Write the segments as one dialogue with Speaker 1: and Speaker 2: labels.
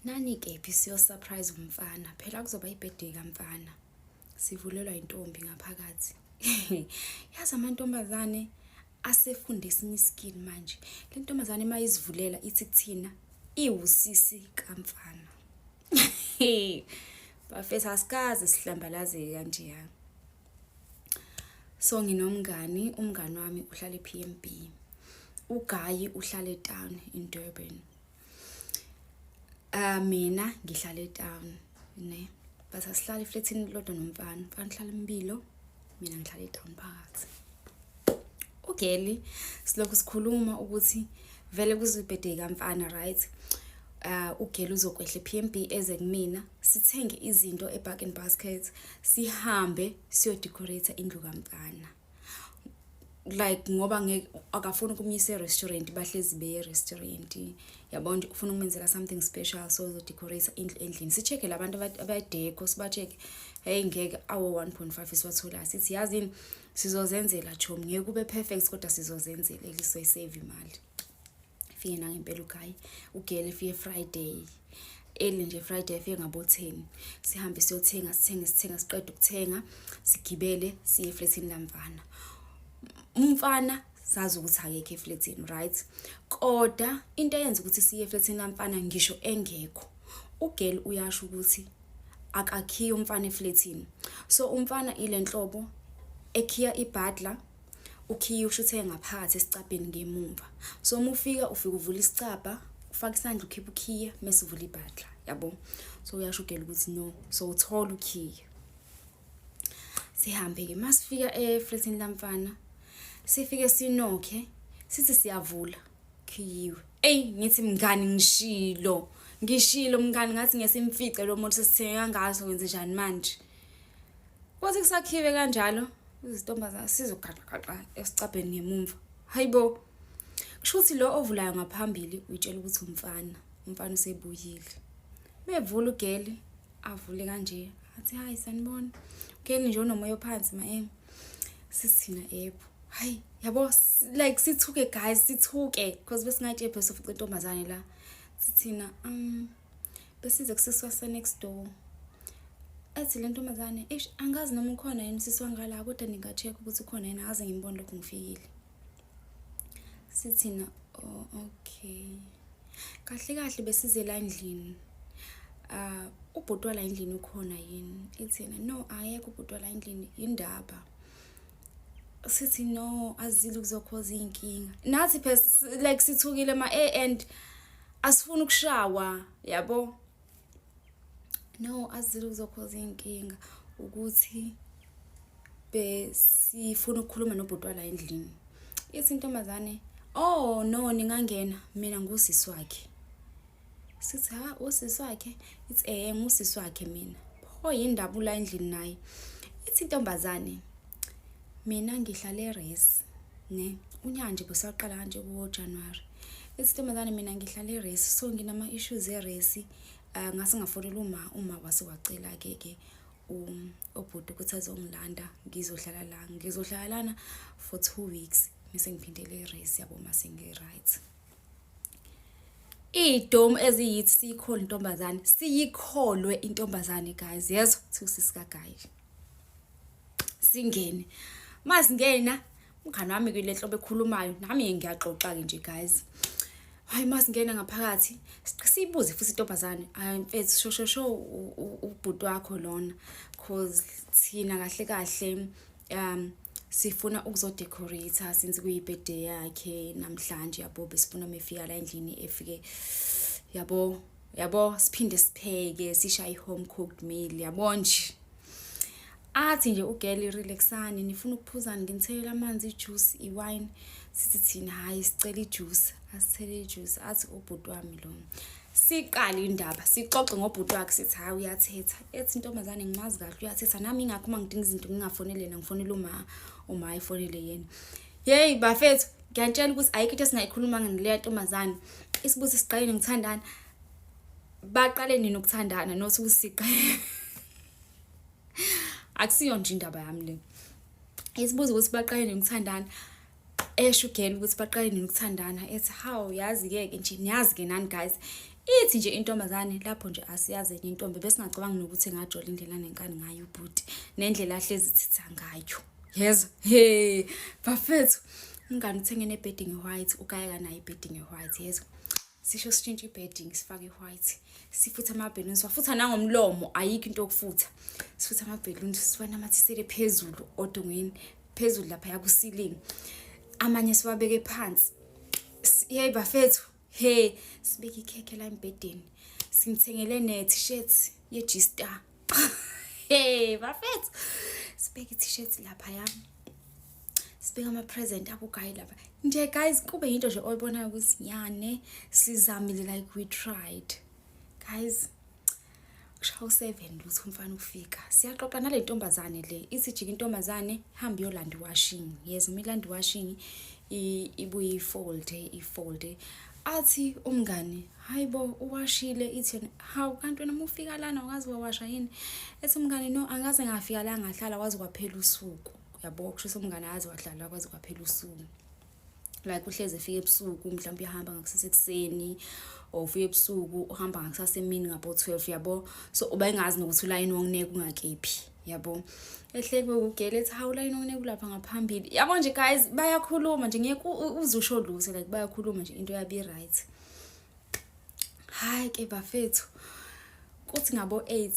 Speaker 1: nani kephi siyosurprise umfana phela kuzoba ibirthday kamfana sivulelwa intombi ngaphakathi yazi amantombazane asefunde esinye iskill manje le ntombazane uma izivulela ithi kuthina iwusisi kamfana bafethu asikaze sihlambalazeke kanjeyana so nginomngani umngani wami uhlala e-p m b ugayi uhlala etown in durban um mina ngihlala etown ne but asihlala eflethini lodwa nomfana mfana uhlala impilo mina ngihlala etown phakathi ugeli silokhu sikhuluma ukuthi vele kuzibhedeka mfana right uh, ugela uzokwehla e-pmb eze kumina sithenge izinto e-bargain basket sihambe siyodecorate indlu kamfana like ngoba ngeke akafuni ukumyisa e-restaurant bahlezi beye e-restaurant yabona nje ufuna ukumenzela something special so uzodecorate indlu endlini si-check-e la bantu abadeco siba-check-e heyi ngeke awo-one point five esiwatholayo sithi yazini sizozenzela chomi ngeke ube perfect kodwa sizozenzela elisoyisave imali fike nangempela ugayi ugele fike friday eli nje friday fike ngabo-ten sihambe siyothenga sithenge sithenga siqeda ukuthenga sigibele siye efletini lamfana umfana sazi ukuthi akekho efletini right koda into eyenza ukuthi siye efletini lamfana ngisho engekho ugel uyasho ukuthi akakhiye umfana efletini so umfana ile nhlobo ekhiya ibadla ukhiye usho ukuthi engaphakathi esicabheni ngemumva so uma ufika ufika uvula isicabha ufaka isandla ukhipha ukhiye mese uvula ibhadla yabo so uyashugela ukuthi no so uthola ukhiye sihambe-ke uma sifika efletini lamfana sifike sinokhe sithi siyavula khiyiwe eyi ngithi mngani ngishilo ngishilo mngani ngathi ngesimfice lo muntu sesithenge kangaso wenze njani manje kwathi kusakhiwe kanjalo izintombazana sizogaxagaxa esicabheni ngemumva hayi bo kusho ukuthi lo ovulayo ngaphambili uyitshela ukuthi umfana umfana usebuyile bevula ugeli avule kanje athi hayi sanibona ugeli nje unomoya ophansi ma em sisina epho hayi yabo like sithuke guys sithuke because besingatshe phela sofuqa intombazane la sithina um besize kusiswa se next door athi le ntombazane eish angazi noma ukhona yini sisi wangala kodwa ninga-check ukuthi ukhona yini akaze ngimbone lokhu ngifikile sithina oh, okay kahle kahle besize la endlini uh, ubhuti wala endlini ukhona yini ithina no ayekho ubhuti wala endlini yindaba sithi no azile kuzokhoza iy'nkinga nathi phela like sithukile ma-a and asifuni ukushawa yabo no azile kuzokhoza iy'nkinga ukuthi besifuna ukukhuluma nobhuti wala endlini ithi intombazane oh no ningangena mina ngusisi wakhe sithi ha usisi wakhe ithi eh ngusisi wakhe mina pho yindaba ula endlini naye ithi intombazane mina ngihlale resi ne unyanje besaqala kanje kuwo January isintombazane mina ngihlala eresi so nginama-issues eresi um ah, ngase ngafonela uma uma wase wacela-ke ke obhuti ukuthi azongilanda ngizohlala la ngizohlala lana for two weeks mese ngiphindele eresi yabo uma sengi-right idomu eziyithi siyikhole intombazane siyikholwe intombazane guys yezwa thusisikaguys singene masingena umngane wami ke lenhlobo ekhulumayo nami ngiyaxoxa ke nje guys hayi masingena ngaphakathi sibuze futhi intombazane hayi mfethu shosho sho ubhuti wakho lona cause thina kahle kahle um sifuna ukuzodecorate since kuyibirthday yakhe namhlanje yabo besifuna mefika la endlini efike yabo yabo siphinde sipheke sisha i-home cooked meal yabo nje athi nje ugeli relaxani nifuna ukuphuzani nginithele amanzi ijuice iwine sithi thina hhayi sicela ijuice asithele ijuice athi ubhuti wami lo siqale indaba sixoxe ngobhuti wakhe sithi hhayi uyathetha ethi intombazane ngimazi kahle uyathetha nami ingakho uma ngidinga izinto ngingafonele yena ngifonele uma uma efonele yena yeyi bafethu ngiyantshela ukuthi ayikho into esingayikhulumanga nileya ntombazane isibuzo siqaleni ngithandana baqale nini ukuthandana not ukuthi siqale akusiyo nje indaba yami le isibuzo ukuthi baqale nini ukuthandana esho ugela ukuthi baqale nini ukuthandana ethi how yazi ke ke nje niyazi ke nani guys ithi nje intombazane lapho nje asiyazi enye intombi besingacabanga nokuthi ngajola indlela nenkani ngayo ubhuti nendlela ahlezi thitha ngayo yezo he bafethu umngane uthenge ne-bedding white ukayeka nayo i-bedding white yezo sisho sitshintshe i-bedding sifake i-white sifutha amabheluni siwafutha nangomlomo ayikho into yokufutha sifutha amabheluni siwanamathisele phezulu odongweni phezulu lapha yakusilingi amanye siwabeke phansi yeyi bafethu he sibeke ikhekhe la embhedeni simthengele ne-t-shirt ye-g-star hey bafethu sibeke i-t-shirt lapha yami sibeka ama-present abugayi lapha nje guys kube yinto nje oyibonayo ukuthi nyane sizamile like we tried guys kushawu 7 lutho umfana ufika siyaxoxa nale ntombazane le ithi jika intombazane hamba yolanda washing yes uma ilanda washing ibuye ifold ifold athi umngani hayi bo uwashile ithini hawu kanti wena uma ufika lana wazi wawasha yini ethi umngani no angaze ngafika la ngahlala wazi kwaphela usuku yabo kusho umngane azi wahlala kwaze kwaphela usuku like uhlezi efika ebusuku mhlawumbe uyahamba ngakusasa ekuseni or ufika ebusuku uhamba ngakusasa emini ngabo 12 yabo so uba engazi nokuthi ulayini wongineke ungakephi yabo ehleke ukugele ethi hawu layini wongineke ulapha ngaphambili yabo nje guys bayakhuluma nje ngeke uzusho lutho like bayakhuluma nje into yabi right hayi ke bafethu kuthi ngabo 8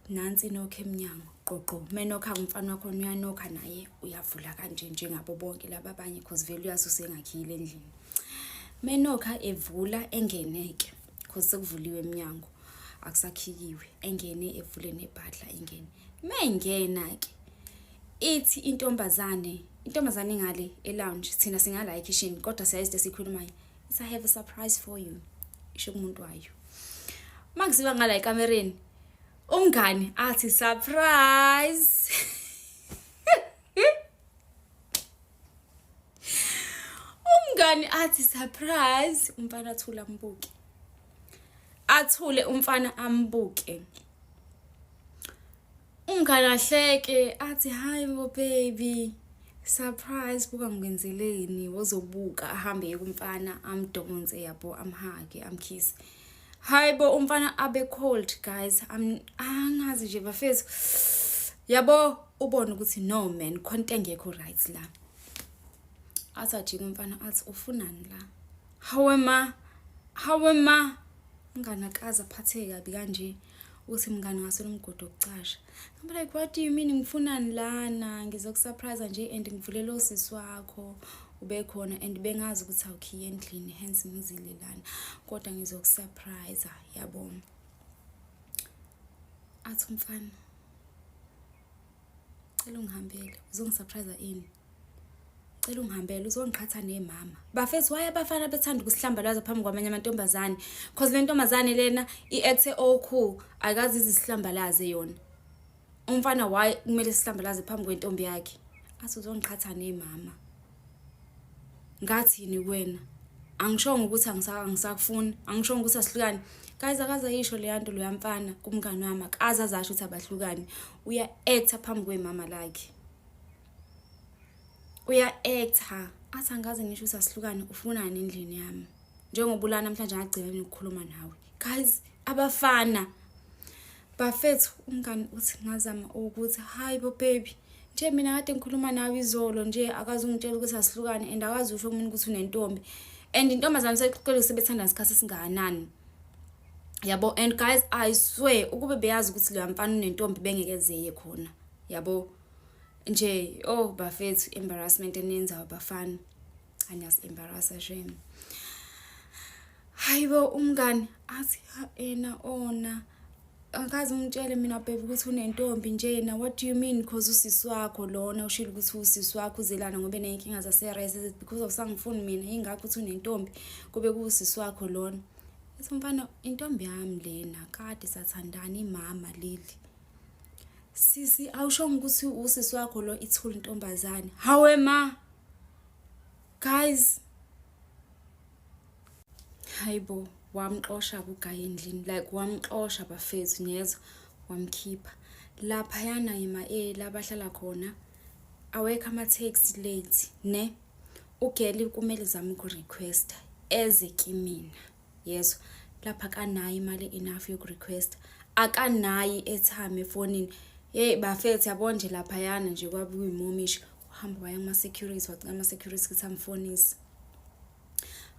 Speaker 1: nansi inokho emnyango qoqo menokha umfana wakho uyanokha naye uyavula kanje njengabo bonke laba abanye cause vele uyazi usengakhile endlini menokha evula engeneke cause sekuvuliwe emnyango akusakhikiwe engene evule nebhadla engene mengena ke ithi intombazane intombazane ingale elounge thina singala ekhishini kodwa siyazi lesikhulumayo it's i have a surprise for you isho kumuntu wayo makuziwa ngala ekamereni umngani athi surprise umngani athi surprise umfana athula ambuke athule umfana ambuke Umngane ahleke athi hayi bo baby surprise buka ngikwenzeleni wozobuka ahambe kumfana amdonse yabo amhage amkhisi hayi bo umfana abe cold guys angazi nje bafethu yabo ubone ukuthi no man khonto engekho right la athi ajike umfana athi ufunani la hawe ma hawe ma umngane akaze aphatheke kabi kanje uthi mngane ngasona umgodi wokucasha I'm like what do you mean ngifunani lana ngizokusurprise nje and ngivulele usisi wakho ubekhona and bengazi ukuthi awukhiye endlini hence ngizile lana kodwa ngizokusurprise yabona athi umfana cela ungihambele uzongisurprise ini cela ungihambele uzongiqhatha nemama bafethu waye abafana bethanda ukusihlambalaza phambi kwamanye amantombazane cause le ntombazane lena i-acte okhulu ayikazi izihlambalaze yona umfana waye kumele sihlambalaze phambi kwentombi yakhe athi uzongiqhatha nemama ngathini kuwena angishongo ukuthi angisakufuni angishongo ukuthi asihlukane guys akaze ayisho leya nto loya mfana kumngani wami akaze azasho ukuthi abahlukane uya actor phambi kwemama lakhe uya actor athi angaze ngisho ukuthi asihlukane ufunani endlini yami njengoba ulana namhlanje ngagcina ukukhuluma nawe guys abafana Bafethu umngani uthi ngazama ukuthi hayi bo baby nje mina kade ngikhuluma nawe izolo nje akazi ungitshela ukuthi asihlukane and akazi usho kumina ukuthi unentombi and intombazane seqele sebethanda isikhathi esingakanani yabo and guys i swear ukube beyazi ukuthi leya mfana unentombi bengeke zeye khona yabo nje oh bafethu embarrassment enenzayo bafana cha niyasi-embarrassa shame hayi bo umngani athi ena ona oh, angikaze ungitshele mina bhebe ukuthi unentombi nje yena what do you mean because usisi wakho lona ushilo ukuthi usisi wakho uzelana ngoba eneyinkinga zase-res is it because of sangifuni mina yingakho ukuthi unentombi kube kuwusisi wakho lona ethi umfana intombi yami lena kade sathandana imama leli sisi awushongo ukuthi usisi wakho lo ithule intombazane hawe ma guys hayibo wamxosha kugayi endlini like wamxosha bafethu niyezwa wamkhipha laphayana ngema-eli abahlala khona awekho ama-taxi late ne ugeli kumele zame uku-requesta eze kimina yezwa lapha akanayo imali enough yokurequesta akanayi i-airtime efonini yeyi bafethu yabo nje laphayana nje kwabuyimomisho uhamba waya kuma-security wacela ama-security ukuthi amfonise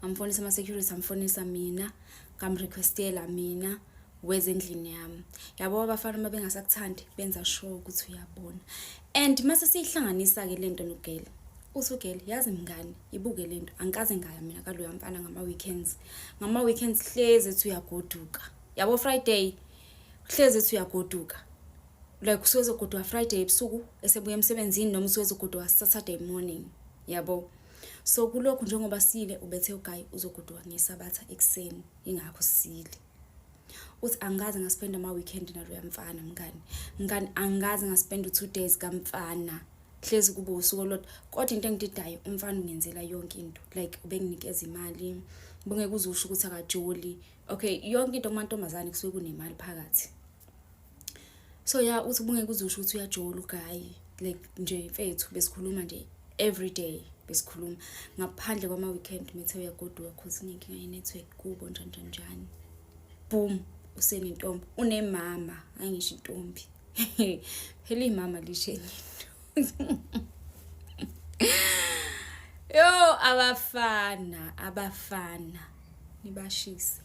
Speaker 1: amfonisa ama-security amfonisa mina ngamrequestela mina weza endlini yami yabo abafana uma bengasakuthandi benza sure ukuthi uyabona and mase siyihlanganisa-ke le nto nogeli uthi ugeli yazi mngani ibuke le nto angikaze ngaya mina kaloya mfana ngama-weekends ngama-weekends hlezi ethi uyagoduka yabo friday hlezi ethi uyagoduka like usuwezogoduka friday ebusuku esebuya emsebenzini noma usuwezogoduka saturday morning yabo so kulokhu njengoba sile ubethe ugayi uzogoduka ngesabatha ekuseni ingakho sile uthi angikaze ngaspenda ama-weekend naloya mfana mngani mngani angikaze ngaspenda u-two days kamfana hlezi kube usuku olodwa kodwa into engididayo umfana ungenzela yonke into like ubenginikeza imali bengeke uzusho ukuthi akajoli okay yonke into kumantombazane kusuke kunemali phakathi so ya uthi ubungeke uzusho ukuthi uyajola ugayi like nje mfethu besikhuluma nje every day besikhuluma ngaphandle kwama-weekend methe uyagoduka cause inenkinga ye-network kubo njanjanjani boom usenentombi unemama angisho intombi phela imama lishenini yo abafana abafana nibashise